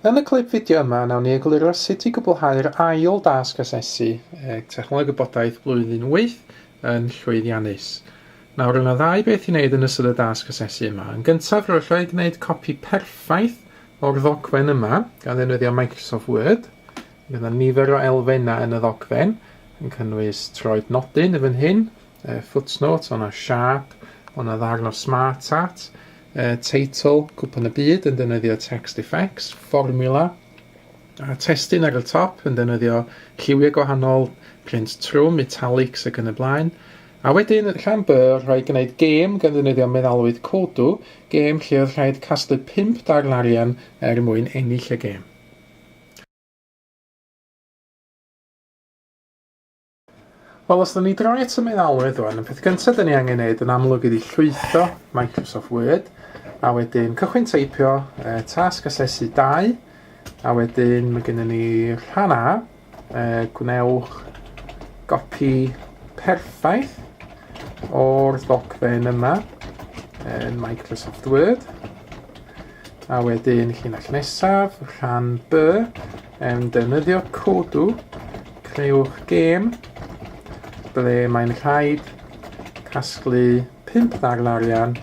Yn y clip fideo yma, nawn ni egluro sut i gwblhau'r ail dasg asesu e, Technoleg Gwybodaeth Blwyddyn wyth yn llwyddiannus. Nawr, roedd yna ddau beth i wneud yn ystod y dasg asesu yma. Yn gyntaf, roedd rhaid gwneud copi perffaith o'r ddogfen yma, gan ddefnyddio Microsoft Word. Bydd yna nifer o elfennau yn y ddogfen, yn cynnwys troed nodyn yn fan hyn, uh, footnote, o'na siap, o'na ddarn o smart art, uh, teitl, cwpan y byd yn defnyddio text effects, formula, a testun ar y top yn defnyddio lliwiau gwahanol, print trwm, italics ac yn y blaen. A wedyn, rhan by, rhaid gwneud gêm gan ddefnyddio meddalwyd codw, gêm lle oedd rhaid casglu 5 darn arian er mwyn ennill y gêm. Wel, os da ni droi at y meddalwedd o'n, y peth gyntaf da ni angen neud yn amlwg ydi llwytho Microsoft Word, a wedyn cychwyn teipio e, tasg asesu 2, a wedyn mae gennym ni rhan A, e, gwnewch gopi perffaith o'r ddogfen yma yn Microsoft Word, A wedyn llinell nesaf, rhan B, yn defnyddio codw, creuwch gêm ble mae'n rhaid casglu 5 ddarn arian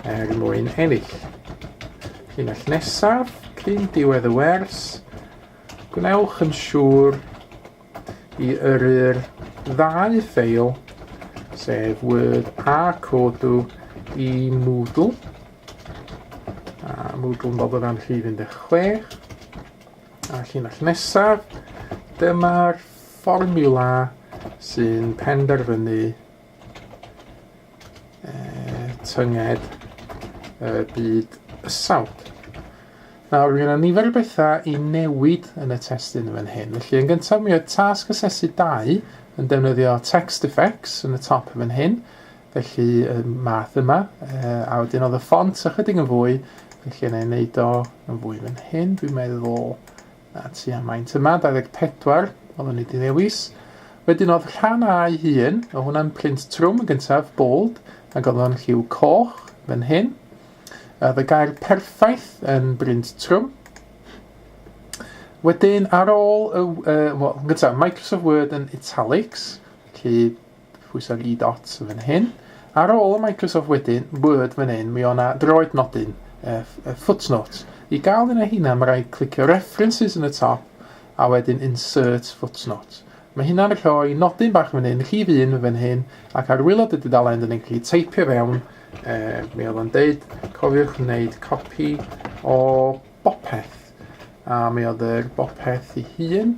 er mwyn ennill. Llinell nesaf, cyn diwedd y wers, gwnewch yn siŵr i yrru'r ddau ffeil, sef Word a Codu, i Moodle. A Moodle yn bob o fewn rhif 16. A llinell nesaf, dyma'r fformiwla sy'n penderfynu uh, tynged y uh, byd ysawd. Nawr, mae yna nifer o bethau i newid yn y testun yn fan hyn. Felly, yn gyntaf, mi oedd tasg asesu dau yn defnyddio text effects yn y top yn fan hyn. Felly, y math yma. Uh, a wedyn oedd y ffont ychydig yn fwy. Felly, yna ei wneud o yn fwy fan hyn, dwi'n meddwl. A tua maint yma, 24, o fyny di ddewis. Wedyn oedd rhan a'i hun, o hwnna'n print trwm yn gyntaf, bold, ac oedd o'n lliw coch, fan hyn. Oedd y gair perffaith yn brint trwm. Wedyn, ar ôl, y, uh, well, yn gyntaf, Microsoft Word yn italics, felly Pwysa Lee Dot fan hyn. Ar ôl y Microsoft wedyn, Word fan hyn, mi o na droed nodyn, uh, uh, footnotes. I gael un o hynna, mae rhaid clicio References yn y top, a wedyn Insert Footnote. Mae hynna'n rhoi nodyn bach fan hyn, rhif un fan hyn, ac ar wylod y dudalen, dyn ni'n gallu teipio fewn, uh, mi oedd o'n deud, cofiwch wneud copi o bopeth a mi oedd yr bopeth i hun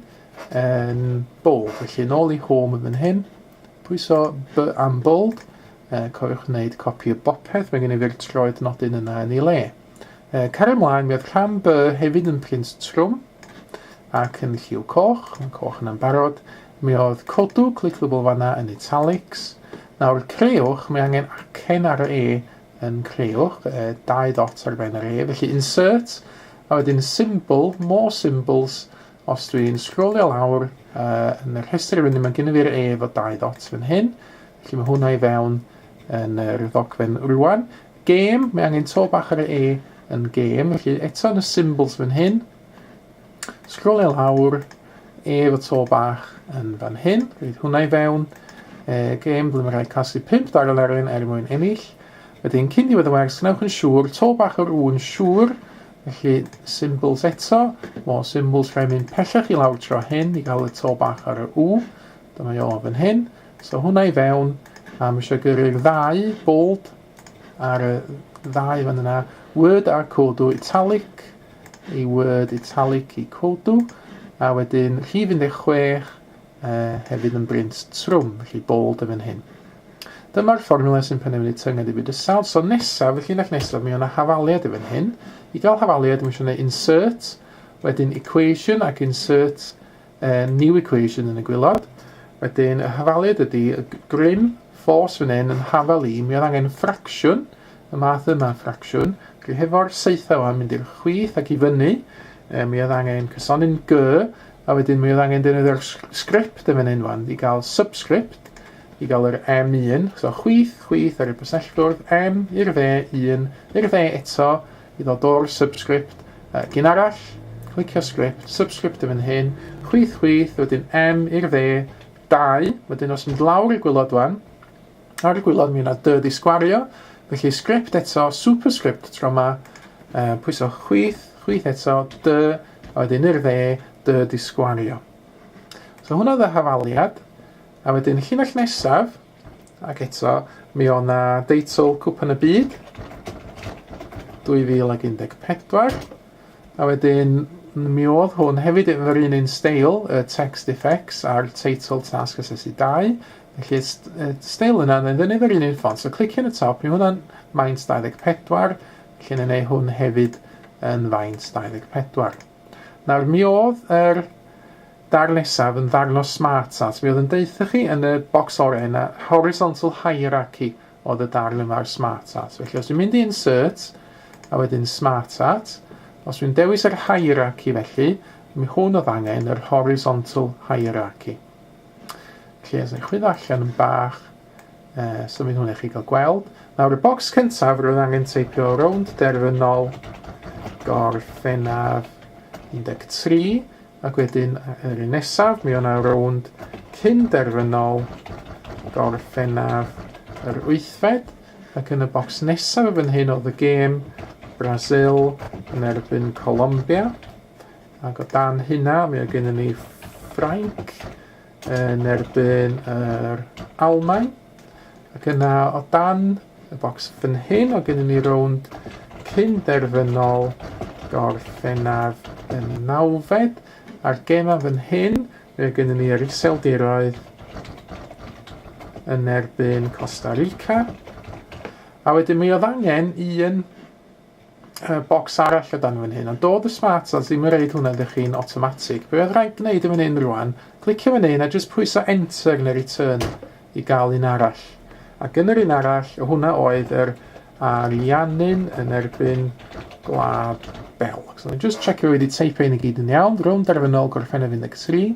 yn bold. Felly, yn ôl i home yn fan hyn, pwyso B am bold, e, cofiwch wneud copi o bopeth, mae gen i fi'r troed nodyn yna yn ei le. E, cario mlaen, mi oedd rhan B hefyd yn print trwm, ac yn lliw coch, mae coch yna'n barod, mi oedd codw, clickable fanna yn italics, nawr creuwch, mae angen acen ar y E yn creuwch, e, dau dot ar ben yr E, felly insert, a wedyn symbol, more symbols, Os dwi yn sgrolio lawr uh, yn y rhestr rydym yn gynnu i'r e fod dau ddot fan hyn, felly mae hwnna i fewn yn yr ddogfen rwan. Gêm, mae angen to bach ar y e yn gêm, felly eto yn y symbols fan hyn, sgrolio lawr, e fod to bach yn fan hyn, rhaid hwnna i fewn, e, gêm ble mae rhaid casu 5 darn ar un er mwyn ennill, Wedyn, cyn diwedd y wers, gwnewch yn siŵr, to bach o'r ŵn siŵr, Felly, symbols eto, more symbols, rhaid mynd pellach i lawr tro hyn i gael y to bach ar y U. Dyma i o fan hyn. So hwnna i fewn, a mae eisiau gyrru'r ddau bold ar y ddau fan yna. Word ar codu italic i word italic i codu, a wedyn rhif 16 uh, hefyd yn brint trwm, felly bold yn fan hyn. Dyma'r fformula sy'n penderfynu tynged i fyd y sawl. So nesaf, y llinell nesaf, mi o'na hafaliad i fan hyn. I gael hafaliad, mi eisiau gwneud insert, wedyn equation ac insert uh, new equation yn y gwylod. Wedyn, y hafaliad ydy y grym ffos fan hyn yn hafal i, mi oedd angen ffracsiwn, y math yma ffracsiwn, felly hefo'r seithau o'n mynd i'r chwith ac i fyny, e, mi oedd angen cysonin gy, A wedyn mi oedd angen defnyddio'r script yn fan hyn wan, i gael subscript, i gael yr M1, so chwith, chwith ar y byselltwrdd, M i'r dde, 1 i'r dde eto, i ddod o'r subscript, uh, gyn arall, clicio script, subscript yn fan hyn, chwith, chwith, wedyn M i'r dde, 2, wedyn os mynd lawr y gwylod wan, Ar y gwylod mi yna dy di sgwario, felly script eto, superscript tro ma, uh, pwyso chwyth, chwyth eto, dy, a wedyn i'r dde, dy di sgwario. So hwnna dda hafaliad, a wedyn y llinell nesaf, ac eto, mi o na deitl Cwpan y Byd, 2014, a wedyn mi oedd hwn hefyd yn yr un un steil, y text effects a'r teitl tasg asesu 2, Felly y steil yna, mae'n fyny efo'r un un ffont. So clicio yn y top, mae hwnna'n faint 24, felly yn ei hwn hefyd yn faint 24. Nawr, mi oedd yr dar nesaf yn ddarn o smart art. Mi oedd yn deutha chi yn y bocs orau yna, horizontal hierarchy oedd y darn yma ar smart art. Felly, os dwi'n mynd i insert, a wedyn smart art, os dwi'n dewis yr hierarchy felly, mi hwn oedd angen yr horizontal hierarchy. Felly, os ewch chi ddarllen yn bach, uh, so fydd hwnna chi gael gweld. Nawr, y bocs cyntaf, roedd angen teipio rownd derfynol gorffennaf 13, ac wedyn yr un nesaf, mi o'na rownd cyn derfynol gorffennaf yr wythfed, ac yn y bocs nesaf yn hyn oedd y gêm Brazil yn erbyn Colombia. Ac o dan hynna, mi oedd gennym ni Ffrainc yn erbyn yr Almaen. Ac yna o dan y bocs fan hyn, oedd gennym ni rownd cyn derfynol gorffennaf yn y nawfed. A'r gemau fan hyn, mi oedd gennym ni yr Iseldiroedd yn erbyn Costa Rica. A wedyn mi oedd angen un y bocs arall o dan fan hyn, ond doedd y smart ads ddim yn reid hwnna iddo chi'n automatic. Be oedd rhaid gwneud yn fan hyn rwan, clicio fan hyn a jyst pwyso enter neu return i gael un arall. Ac yn yr un arall, o hwnna oedd yr Ariannin yn erbyn Gwlad Belg. So, just checio wedi teipio yn y gyd yn iawn, rown derfynol gorffennaf 13,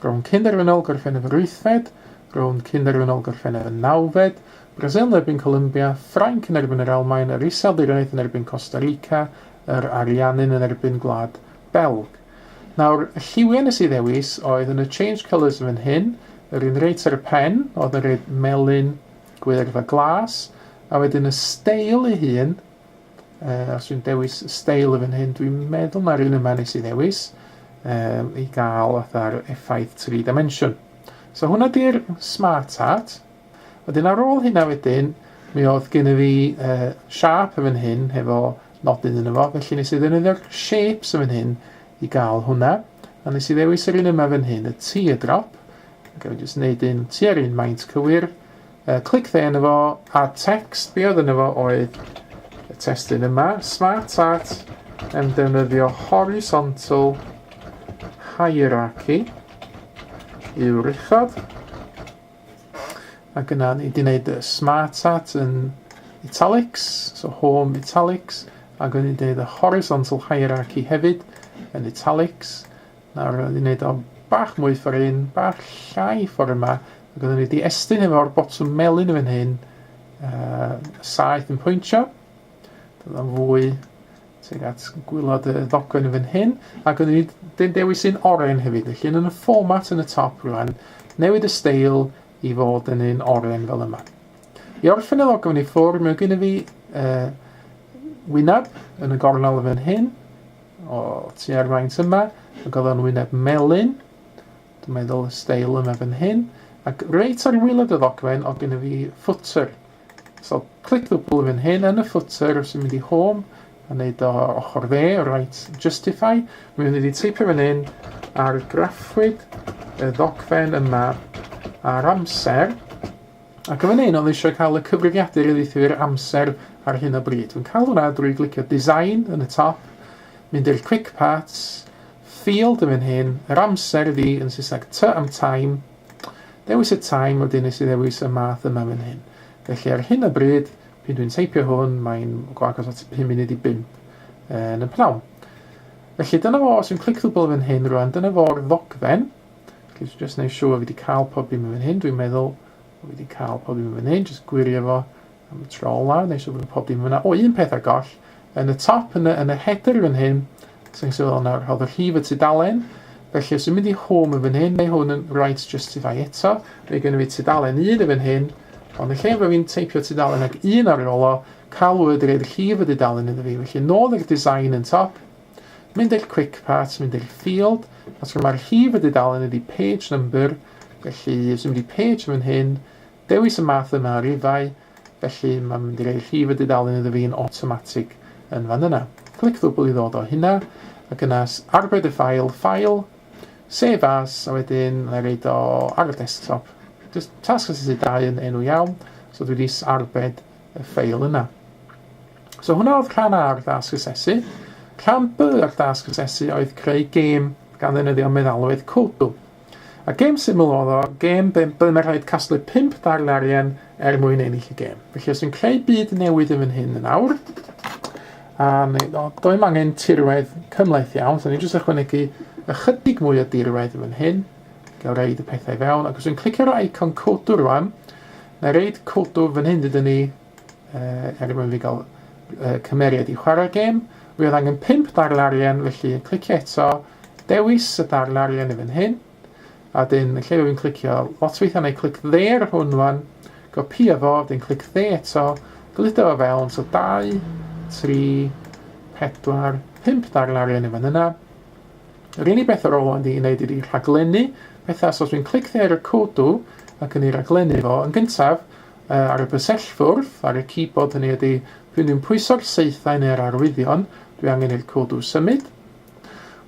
rown cyn derfynol gorffennaf yr wythfed, rown cyn derfynol gorffennaf y nawfed, Brasil yn erbyn Columbia, Ffrainc yn erbyn yr Almaen, yr Iseldiroedd yn erbyn Costa Rica, yr Ariannin yn erbyn Gwlad Belg. Nawr, y lliwiau nes i ddewis oedd yn y change colours yn fan hyn, yr un reit ar y pen, oedd yn rhaid melyn, gwyrdd a glas, a wedyn y steil ei hun, uh, os dwi'n dewis y steil yn fan hyn, dwi'n meddwl mae'r un yma nes i ddewis, um, i gael fatha'r effaith tri dimension. So hwnna di'r smart art. Wedyn ar ôl hynna wedyn, mi oedd gen i fi uh, sharp yn fan hyn, hefo nodyn yn efo, felly nes i ddefnyddio'r shapes yn fan hyn i gael hwnna, a nes i ddewis yr un yma fan hyn, y teardrop, ac efe jyst wneud un tua'r un maint cywir, uh, clic dde yn efo, a text, be oedd yn efo oedd y testyn yma, smart art, yn defnyddio horizontal hierarchy, yw'r uchod, Mae gynna ni, di wneud y smart hat yn italics, so home italics, a gynnu ni wneud y horizontal hierarchy hefyd yn italics. Nawr, di wneud o bach mwy ffordd un, bach llai ffordd yma, a gynnu ni di estyn efo'r botwm melyn yn fan hyn, uh, saeth yn pwyntio, Dyna fwy tuag at gwylod y ddogfen yn fan hyn. Ac o'n i dyn dewis un oren hefyd, felly yn y fformat yn y top rwan, newid y steil i fod yn un oren fel yma. I orffen y ddogfen i ffwrdd, mae gen i fi uh, wyneb yn y gornel fan hyn, o tua'r faint yma, y goddon wyneb melyn, dwi'n meddwl y steil yma fan hyn, ac reit ar wylod y ddogfen o gen i fi footer, So click the blue fan hyn yn y footer os ti'n mynd i home a neud o ochr dde, right justify. Mi fydd ni wedi teipio fan hyn ar graffwyd y ddogfen yma ar amser. Ac yn fan hyn oedd eisiau cael y cyfrifiadur i ddeithiau i'r amser ar hyn o bryd. Dwi'n cael hwnna drwy glicio design yn y top, mynd i'r quick parts, field yn fan hyn, yr amser ydi yn Saesneg t am time, Dewis y time wedyn nes i ddewis y math yma fan hyn. Felly ar hyn o bryd, pyn dwi'n teipio hwn, mae'n go agos at 5 munud i 5 yn y pnawn. Felly dyna fo, os yw'n clic ddwbl fan hyn rwan, dyna fo'r ddogfen. Felly dwi'n just neud siŵr fi wedi cael pob dim yn fan hyn, dwi'n meddwl fi wedi cael pob dim yn fan hyn, just gwirio fo, Am y tro olaf, wna i siŵr bod pob dim yn fan'na. O, un peth ar goll, yn y top, yn y, yn y header fan hyn, ac sy'n sylweddol nawr, rhodd y rhif y tudalen, felly os dwi'n mynd i home yn fan hyn, mae hwn yn right justify eto, mae gen i fi tudalen un yn fan hyn, ond y lle fod fi'n teipio tudalen ag un ar ôl o, calwyd yr rhif y dudalen iddo fi, felly nôl i'r design yn top, mynd i'r quick part, mynd i'r field, a tro mae'r rhif y dudalen ydi page number, felly os dwi'n mynd i page yn fan hyn, Dewis y math yna o rifau, felly mae'n mynd i roi rhif y dudalen iddo fi yn awtomatig yn fan yna. Clic ddwbl i ddod o hynna, ac yna arbed y ffail, File, Save As, a wedyn na i reid o ar y desktop. Just tasg asesu 2 yn enw iawn, so dwi wedi arbed y ffail yna. So hwnna oedd rhan A o'r dasg asesu. Rhan B o'r dasg asesu oedd creu gêm gan ddefnyddio meddalwedd Kodu. A gêm syml oedd o, gêm be, byddwn yn rhaid casglu 5 darn arian er mwyn ennill y gêm. Felly os yn creu byd newid yn fy hyn yn awr, a neu, o, doem angen tirwedd cymlaeth iawn, so ni'n jyst ychwanegu ychydig mwy o dirwedd yn fy hyn, gael reid y pethau fewn, ac os yn clicio'r icon codo rwan, na reid codo fy hyn dydyn ni er mwyn fi gael cymeriad i chwarae'r gêm. Fi oedd angen 5 darn arian, felly yn clicio eto, dewis y darn arian i fan hyn, a dyn yn lle fi'n clicio lot weithiau neu clic dde ar hwn fan, gopi efo, dyn clic dde eto, gludo o fewn, so 2, 3, 4, 5 darn arian i fan yna. Yr unig beth ar ôl ond i wneud ydi rhaglennu pethau, so os fi'n clic dde ar y codw ac yn ei raglennu fo, yn gyntaf, Yy, ar y bysellfwrdd, ar y keyboard hynny ydi, dwi'n ddim pwyso'r saethau neu'r arwyddion, dwi angen i'r codw symud.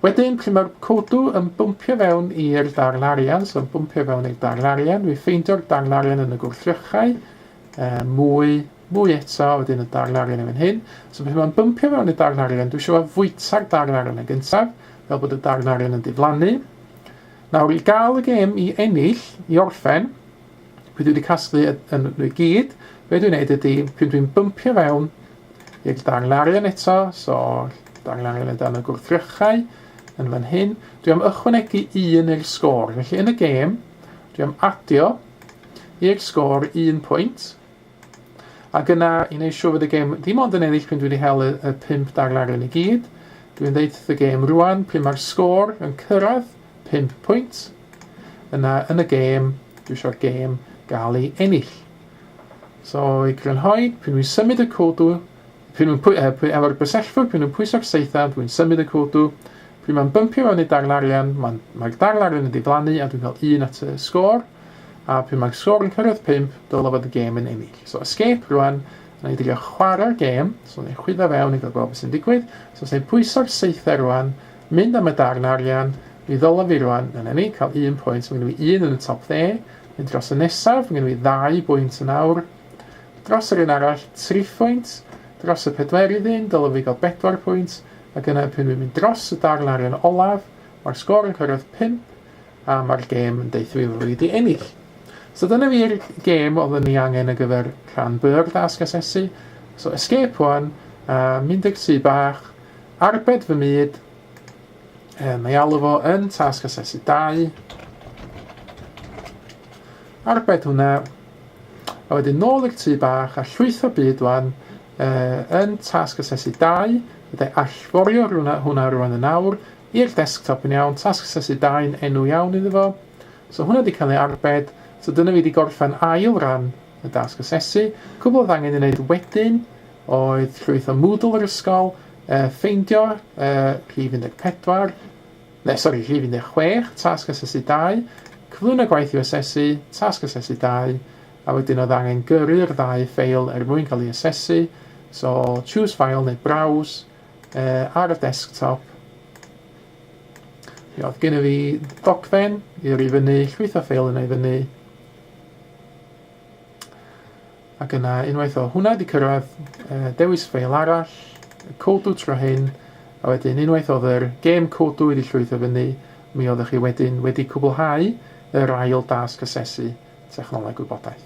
Wedyn, pryd mae'r codw yn bwmpio fewn i'r darn arian, so yn bwmpio fewn i'r darn arian, dwi'n ffeindio'r darn arian yn y gwrthrychau, uh, mwy, mwy eto, wedyn y darn arian yn fan hyn. So pryd mae'n bwmpio fewn i'r darn arian, dwi eisiau fo fwyta'r darn arian yn gyntaf, fel bod y darn arian yn diflannu. Nawr, i gael y gêm i ennill, i orffen, Dwi wedi casglu yn nhw i gyd. Be dwi'n neud ydy, pryd dwi'n bympio fewn i'r darnlarian eto, so darnlarian o dan y gwrthrychau yn fan hyn, dwi am ychwanegu un i'r sgôr. Felly yn y gêm, dwi am adio i'r sgôr un pwynt, Ac yna i wneud siŵr fod y gêm ddim ond yn ennill p'un dwi wedi hel y, y pump darlaren i gyd, dwi'n ddeud wrth y gêm rwan pryn mae'r sgôr yn cyrraedd pump pwynt, yna yn y gêm, dwi eisiau'r gêm gael ei ennill. So i grynhoi, pryn dwi'n symud y cwdw, P'un yn pwy, pwy efo'r bysellfwr, p'un yn pwyso'r saethan, pwy'n symud y cwdw, p'un ma'n bympio fewn i darn arian, ma'n, mae'r darn arian yn diflannu a dwi'n cael un at y sgôr, a p'un ma'r sgôr yn cyrraedd pump, dyle fod y gêm yn ennill. So escape rwan, na i drio chwarae'r gêm, so na i chwyddo fewn i gael gweld beth sy'n digwydd, so os na i pwyso'r saethau rwan, mynd am y darn arian, mi ddylo fi rwan, na ni, cael un pwynt, mae gen i un yn y top dde, mynd dros y nesaf, mae gen i ddau bwynt yn awr, Dros yr un arall, tri phwynt, dros y pedwerydd un, dylem fi gael bedwar pwynt, ac yna pan fi'n mynd dros y darn arian olaf, mae'r sgôr yn cyrraedd pump, a mae'r gêm yn deutho fi fod fi wedi ennill. So dyna fi'r gêm oedden ni angen ar gyfer rhan B o'r dasg asesu. So escape wan, a mynd i'r tŷ bach, arbed fy myd, e, mae alw fo yn tasg asesu 2, arbed hwnna, A wedyn nôl i'r tŷ bach a llwytho byd rwan uh, yn tasg asesu 2, byddai allforio rhywna hwnna rwan yn awr, i'r desktop yn iawn, tasg asesu 2 yn enw iawn iddo fo. So hwnna wedi cael ei arbed, so dyna fi wedi gorffen ail ran y dasg asesu. Cwbl oedd angen ei wneud wedyn oedd llwytho Moodle yr ysgol, uh, ffeindio uh, rhif 14, Llesol i rhif 16, Tasg Asesu 2, Cyflwyno gwaith i'w asesu, Tasg Asesu 2, a wedyn oedd angen gyrru'r ddau ffeil er mwyn cael ei asesu, so Choose File neu Browse uh, ar y desktop. Mi oedd gen i fi dogfen i'r i fyny, llwytho ffeil yna i fyny, Ac yna, unwaith o hwnna 'di cyrraedd, dewis ffeil arall, Codu tro hyn, a wedyn unwaith oedd yr gêm Codu wedi llwytho fyny, mi oeddech chi wedyn wedi cwblhau yr ail dasg asesu technoleg gwybodaeth.